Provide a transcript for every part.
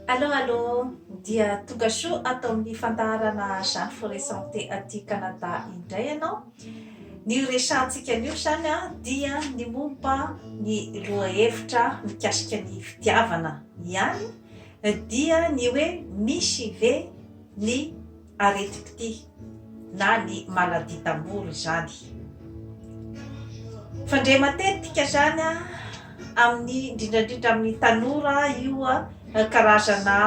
Allo allo, dia tonga soa ato amin'ny fandaharana Jeanne Forêt Santé aty Canada indray ianao. Ny horesahantsika anio izany dia ny momba ny lohahevitra mikasika ny fitiavana ihany, dia ny hoe misy ve ny aretim-pitia na ny maladie d'amour izany. Fandre matetika izany amin'ny indrindraindrindra amin'ny tanora io karazana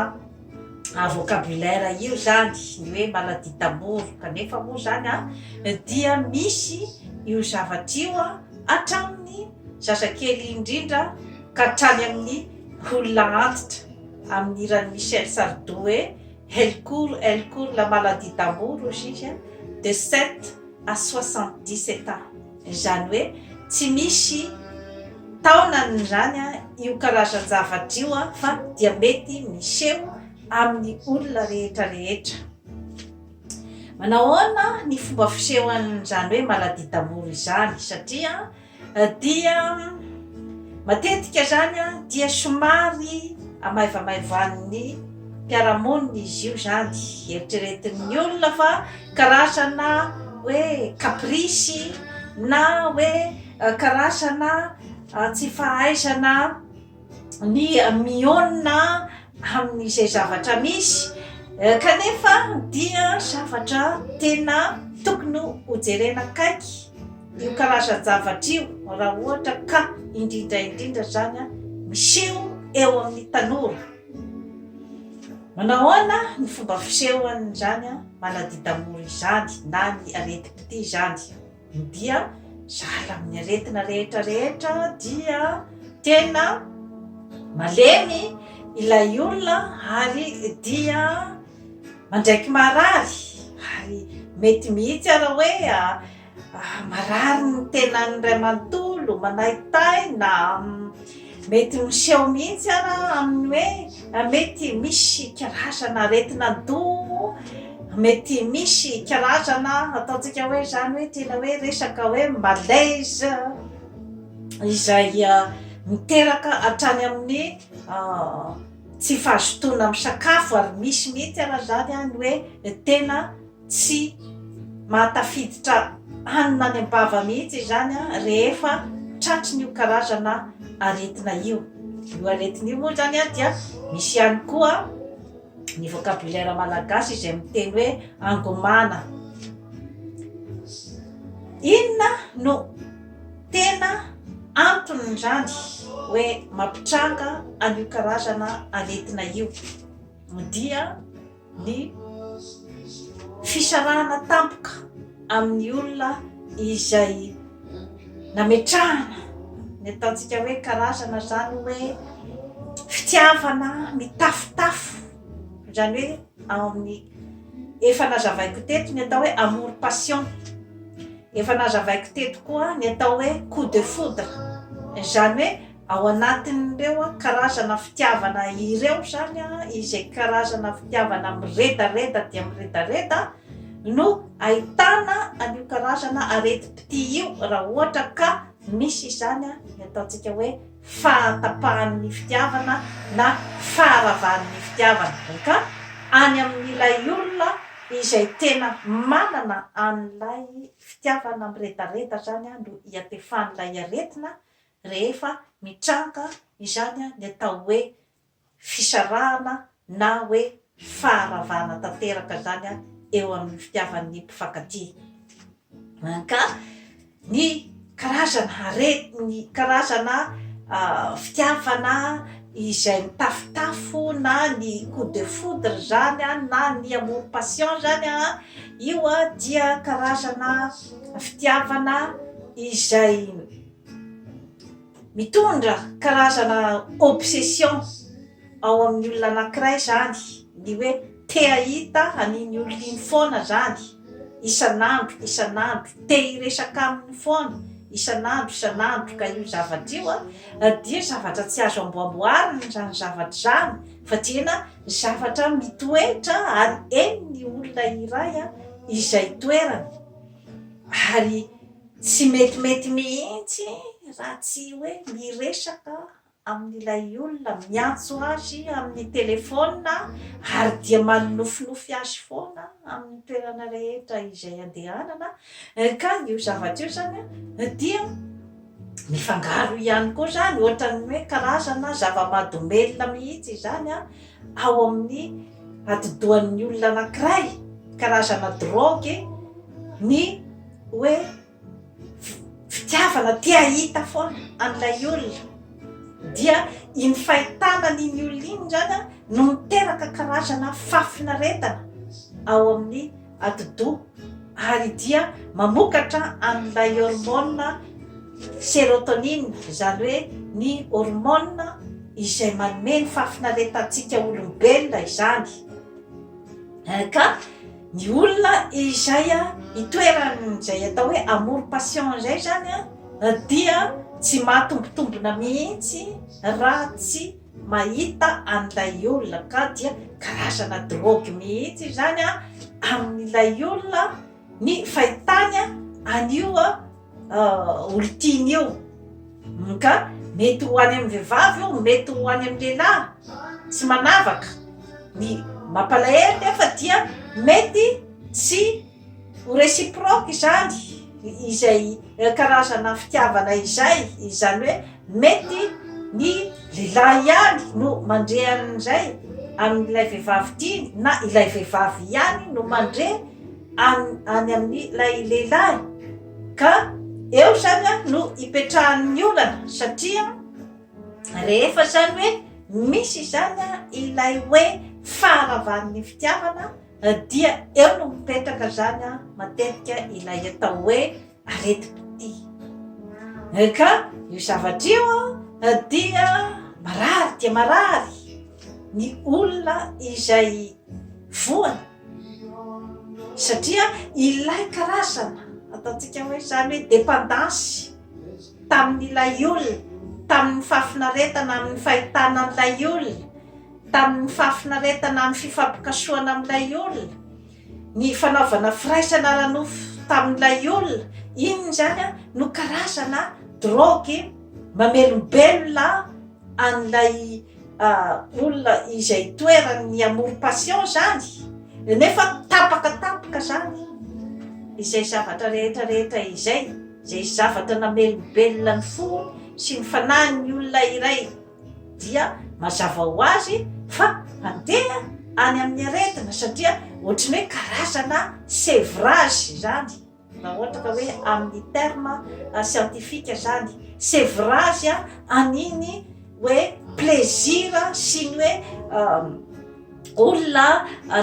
vocabulaire io izany ny hoe maladie d'amour kanefa moa izany dia misy io zavatra io hatramin'ny zazakely indrindra ka hatrany amin'ny olona antitra amin'ny hiran'i Michel Sardou hoe. El cur, el cur, la maladie d'amour hozy izy a, de sept à soixante dix sept ans, izany hoe tsy misy taonany izany io karazan-javatra io fa dia mety miseho amin'ny olona rehetra rehetra. Manao ahoana ny fomba fisehoan'izany hoe maladie d'amour izany satria Dia matetika izany dia somary hamaivamaivan'ny mpiara-monina izy io izany, eritreretin'ny olona fa karazana hoe caprice na hoe karazana tsy fahaizana ny mihaona amin'izay zavatra misy kanefa dia zavatra tena tokony hojerena akaiky io karazan-javatra io raha ohatra ka indrindra indrindra izany an miseho eo amin'ny tanora manao ahoana ny fomba fisehoan'izany an manadidamora izany na ny aretim-pitia izany Ny dia zara amin'ny aretina rehetra rehetra dia tena malemy ilay olona ary dia mandraiky marary ary mety mihitsy ara hoe marary ny tenany iray manontolo, manaitaina. Mety miseho mihitsy àry amin'ny hoe mety misy karazana aretin'andoha, mety misy karazana ataontsika hoe izany hoe tena hoe resaka hoe malaise izay miteraka hatrany amin'ny tsy fahazotoana misakafo ary misy mihitsy àry izany ny hoe tena. Tsy maha tafiditra hanina any am-bava mihitsy izany rehefa tratrin'io karazana aretina io. Io aretina io moa izany dia misy ihany koa ny vocabulaire malagasy izay miteny hoe angomana. Inona no tena anton'izany hoe mampitranga an'io karazana aretina io? Dia. ny fisarahana tampoka amin'ny olona izay nametrahana ny ataontsika hoe karazana izany hoe fitiavana mitafotafo izany hoe ao amin'ny efa nazavaiko teto ny atao hoe amour passion efa nazavaiko teto koa ny atao hoe coup de foudre izany hoe Ao anatin'ireo karazana fitiavana ireo izany, izay karazana fitiavana miredareda dia miredareda no ahitana an'io karazana aretim-pitia io raha ohatra ka misy izany ny ataontsika hoe fahatapahan'ny fitiavana na faharavan'ny fitiavana. Dia ka any amin'ilay olona izay tena manana an'ilay fitiavana miredareda izany no iatefan'ilay aretina rehefa mitranga izany ny atao hoe fisarahana na hoe faharavana tanteraka izany eo amin'ny fitiavan'ny mpifankatia. Ka ny karazana harena, ny karazana fitiavana izay mitafotafo na ny coup de foudre izany na ny amour passion izany, io dia karazana fitiavana izay. Mitondra karazana obsession ao amin'ny olona anankiray izany ny hoe te hahita an'iny olona iny foana izany, isan'andro isan'andro, te hiresaka aminy foana isan'andro isan'andro ka io zavatra io dia zavatra tsy azo amboaboarina izany zavatra izany fa tena zavatra mitoetra ary henon'ny olona iray izay toerany ary. Tsy metimety mihitsy raha tsy hoe miresaka amin'ilay olona, miantso azy amin'ny telefaonina ary dia manofinofy azy foana amin'ny toerana rehetra izay andehanana, ka io zavatra io izany dia mifangaro ihany koa izany, ohatran'ny hoe karazana zava-mahadomelina mihitsy izany ao amin'ny atidohan'ny olona anankiray, karazana drogue, ny hoe fitiavana te hahita foana an'ilay olona. Dia iny fahitana an'iny olona iny izany no miteraka karazana fahafinaretana ao amin'ny. atidoha ary dia mamokatra an'ilay hormone serotonine, izany hoe ny hormone izay manome ny fahafinaretantsika olombelona izany. Eh, ka ny olona izay itoeran'izay atao hoe amour passion izay izany dia tsy mahatombotombona mihitsy raha tsy Mahita an'ilay olona ka dia karazana drogue mihitsy izany amin'ilay olona ny fahitany an'io olon-tiany io. Ka mety ho any amin'ny vehivavy io, mety ho any amin'ny lehilahy, tsy manavaka. Ny mampalahelo nefa dia mety tsy. Ho reciproque izany izay karazana fitiavana izay, izany hoe mety ny lehilahy ihany no mandre an'izay amin'ilay vehivavy tiany na ilay vehivavy ihany no mandre any any amin'ilay lehilahy ka eo izany a no ipetrahan'ny olana satria rehefa izany hoe misy izany a ilay hoe faharavan'ny fitiavana Dia eo no mipetraka izany matetika ilay atao hoe aretim-pitia. Ka io zavatra io dia marary dia marary ny olona izay voany satria ilay karazana ataontsika hoe izany hoe dependance tamin'ilay olona, tamin'ny fahafinaretana, amin'ny fahitana an'ilay olona. Tamin'ny fahafinaretana amin'ny fifampikasohana amin'ilay olona, ny fanaovana firaisana ara-nofo tamin'ilay olona iny izany no karazana drogue mamelombelona an'ilay olona izay toeran'ny amour passion izany nefa tapaka tapaka izany izay zavatra rehetra rehetra izay, izay zavatra namelombelona ny fo sy ny fanahin'ny olona iray. dia mazava ho azy fa mandeha any amin'ny aretina satria ohatry ny hoe karazana sevrage izany raha ohatra ka hoe amin'ny terme scientifique izany sevrage an'iny hoe plaisir sy ny hoe olona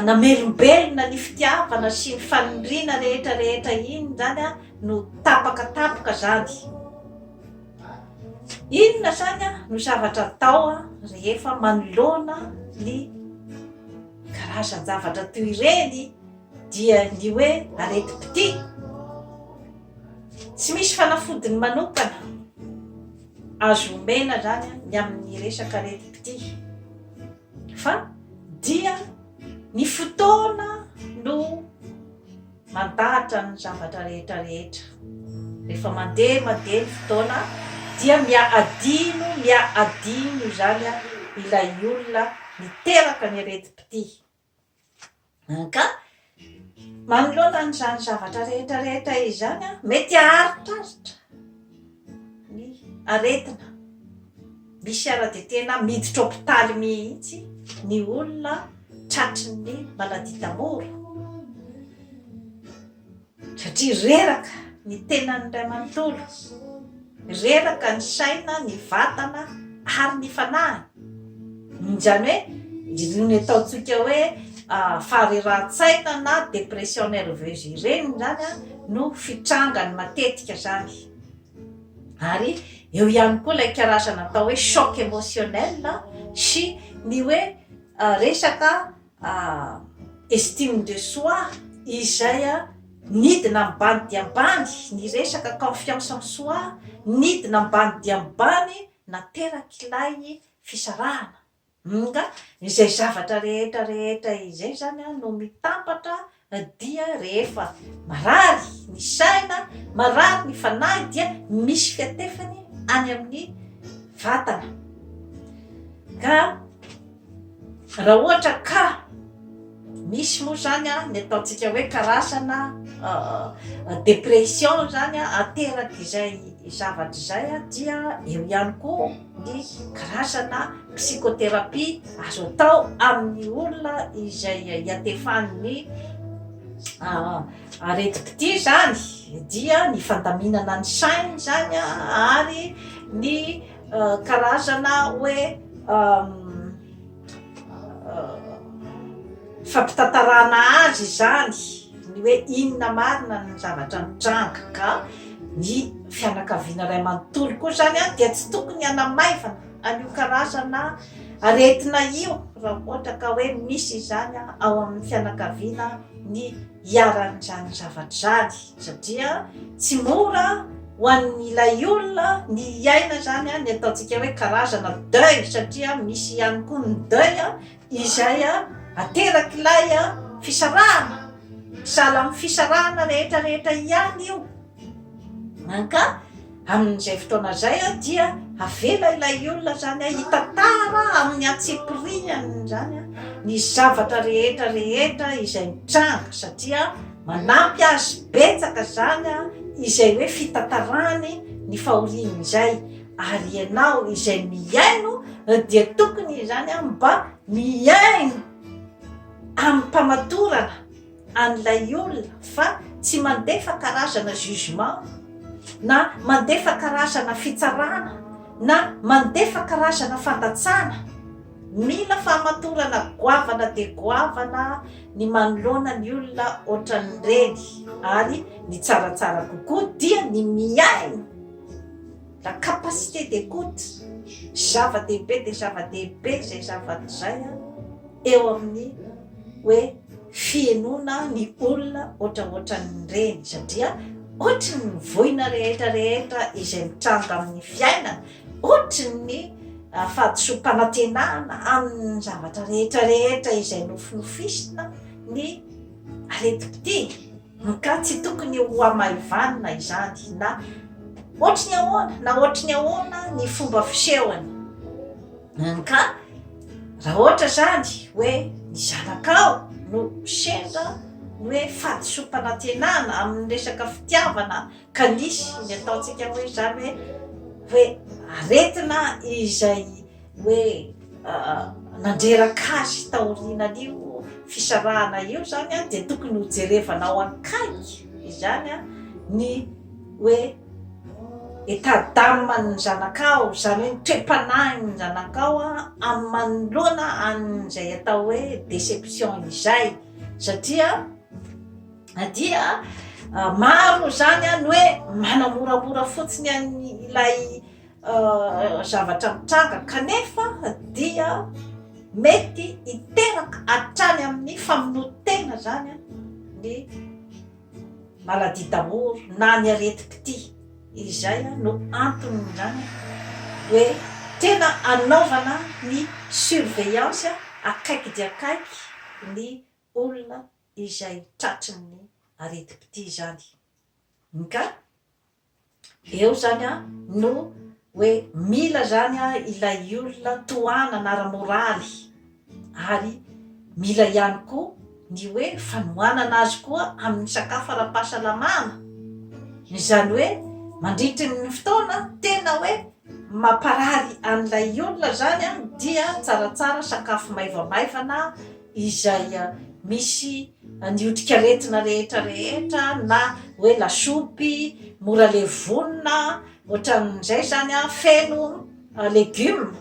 namelombelona ny fitiavana sy ny fanindriana rehetra rehetra iny izany no tapaka tapaka izany Inona izany no zavatra atao rehefa manoloana ny karazan-javatra toy ireny dia ny hoe areti-pitia? Tsy misy fanafodiny manokana azo omena izany ny amin'ny resaka areti-pitia fa dia ny fotoana no Mandahatra ny zavatra rehetra rehetra. Rehefa mandeha mandeha ny fotoana dia mia adino mia adino izany ilay olona niteraka ny aretim-pitia. Ka manoloana an'izany zavatra rehetra rehetra izany mety aharitharitra. ny aretina misy ara de tena miditra hopitaly mihitsy ny olona tratry ny maladie d'amour satria reraka ny tenan'ny ray manontolo reraka ny saina ny vatana ary ny fanahiny izany hoe irony ataontsika hoe faharerahan-tsaina na dépression nerveuse ireny izany no fitrangany matetika izany Ary eo ihany koa ilay karazana atao hoe choc émotionnel sy ny hoe resaka estime de soi izay nidina ambany dia ambany ny resaka confiance en soi nidina ambany dia ambany naterak'ilay fisarahana. Nga izay zavatra rehetra rehetra izay zany an no mitambatra dia rehefa marary ny saina, marary ny fanahy dia misy fiatefany any amin'ny vatana. Ka raha ohatra ka misy moa zany an ny ataontsika hoe karazana depression zany an aterak'izay zavatra izay dia eo ihany koa ny karazana psychothérapie azo atao amin'ny olona izay iatefan'ny aretim-pitia izany dia ny fandaminana ny sainy izany ary ny karazana hoe Fampitantarana azy izany ny hoe inona marina ny zavatra nitranga ka ny fianakaviana iray manontolo koa izany a dia tsy tokony hanamaivana an'io karazana aretina io raha ohatra ka hoe misy izany ao amin'ny fianakaviana ny iharan'izany zavatra izany. satria tsy mora ho an'ilay olona ny hiaina izany ny ataontsika hoe karazana deuil satria misy ihany koa ny deuil izay aterak'ilay fisarahana, sahala amin'ny fisarahana rehetra rehetra ihany io ka. Amin'izay fotoana izay dia avela ilay olona izany hitantara amin'ny antsipiriany izany ny zavatra rehetra rehetra izay mitranga satria manampy azy betsaka izany izay hoe fitantarany ny fahoriany izay ary ianao izay mihaino dia tokony izany mba mihaino amim-pamatorana. an'ilay olona fa tsy mandefa karazana jugement na mandefa karazana fitsarana na mandefa karazana fandatsana. Mila fahamatorana goavana dia goavana ny manoloana ny olona ohatran'ireny ary ny tsaratsara kokoa dia ny mihaino, la capacité d'écoute, zava-dehibe dia zava-dehibe izay zavatra izay eo amin'ny. hoe fihenoana ny olona ohatraohatran'ireny satria ohatry ny voina rehetra rehetra izay mitranga amin'ny fiainana, ohatry ny fahadisoam-panantenana amin'ny zavatra rehetra rehetra izay nofinofisina ny aretim-pitia ka tsy tokony ho hamaivanina izany na ohatry ny ahoana na ohatry ny ahoana ny fomba fisehony. Ka raha ohatra izany hoe ny zanakao no sendra ny hoe fahadisoam-panantenana amin'ny resaka fitiavana ka nisy ny ataontsika hoe izany hoe aretina izay hoe nandreraka azy taorianan'io fisarahana io izany dia tokony hojerevana ao an-kaiky izany ny hoe État d'âme ny zanakao izany hoe ny toe-panahin'ny zanakao amin'ny manoloana an'izay atao hoe déception izay satria na dia maro izany ny hoe manamoramora fotsiny an'ny ilay zavatra mitranga kanefa dia mety hiteraka hatrany amin'ny famonoan-tena izany ny Maladie d'amour na ny aretim-pitia. Izay no anton'izany hoe tena anaovana ny surveillance akaiky dia akaiky ny olona izay tratrin'ny aretim-pitia izany. Nga? Eo zany a no hoe mila zany a ilay olona tohanana ara-moraly ary mila ihany koa ny hoe fanohanana azy koa amin'ny sakafo ara-pahasalamana. Izany hoe mandritry ny fotoana tena hoe mamparary an'ilay olona zany a dia tsaratsara sakafo maivamaivana izay misy ny otrikaretina rehetra rehetra na hoe lasopy mora le vonona ohatran'izay zany a feno legume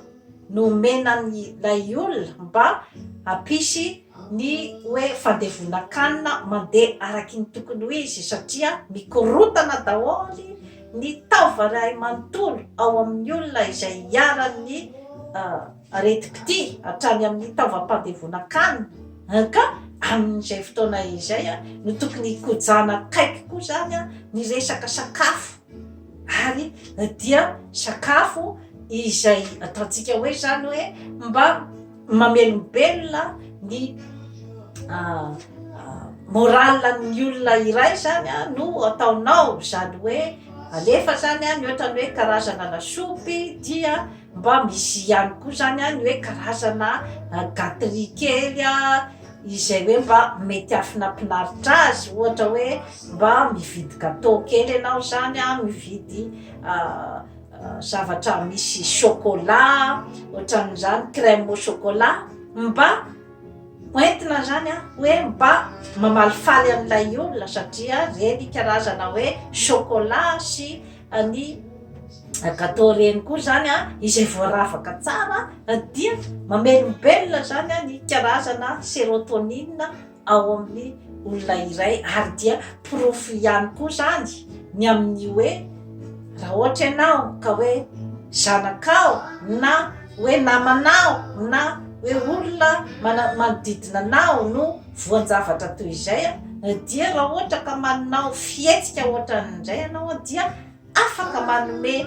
no omena ny lay olona mba hampisy ny hoe fandevonan-kanina mandeha araky ny tokony ho izy satria mikorotana daholo ny taova ray manontolo ao amin'ny olona izay iharan'ny Aretim-pitia hatrany amin'ny taovam-pandevonan-kanina, ka amin'izay fotoana izay no tokony hikojana akaiky koa izany ny resaka sakafo, ary dia sakafo izay ataontsika hoe izany hoe mba mamelombelona ny morale-n'ny olona iray izany no ataonao, izany hoe alefa izany ny ohatran'ny hoe karazana lasopy dia. Mba misy ihany koa zany an ny hoe karazana gaterie kely an izay hoe mba mety hahafinampinaritra azy ohatra hoe mba mividy gateau kely ianao zany an mividy zavatra misy chocolat otran'izany crème au chocolat mba ho entina zany an hoe mba mamalifaly an'ilay olona satria reny karazana hoe chocolat sy Any Agato reny koa zany a, izay voaravaka tsara dia mamelombelona zany a ny karazana serotonine ao amin'ny olona iray ary dia porofo ihany koa zany ny amin'ny hoe raha ohatra ianao ka hoe zanakao na hoe namanao na hoe olona manodidina anao no Voan-javatra toy izay dia raha ohatra ka manao fihetsika ohatran'ny indray ianao dia afaka manome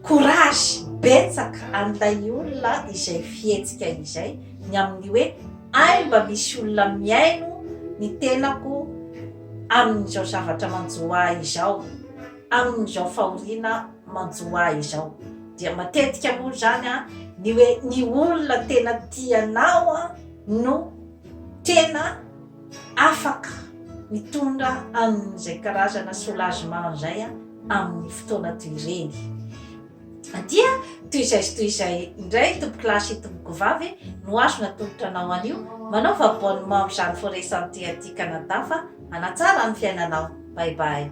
courage betsaka an'ilay olona izay fihetsika izay ny amin'ny hoe hay mba misy olona mihaino ny tenako amin'izao zavatra manjo ahy izao, amin'izao fahoriana manjo ahy izao. Dia matetika moa izany ny hoe ny olona tena tianao no. tena afaka mitondra an'izay karazana soulagement izay amin'ny fotoana toy ireny. Dia toy izay sy toy izay indray tompokolahy sy tompokovavy no azo natolotra anao anio, manaova abonnement amin'izany Forêt Santé aty Canada fa hanatsara ny fiainanao. Bye bye.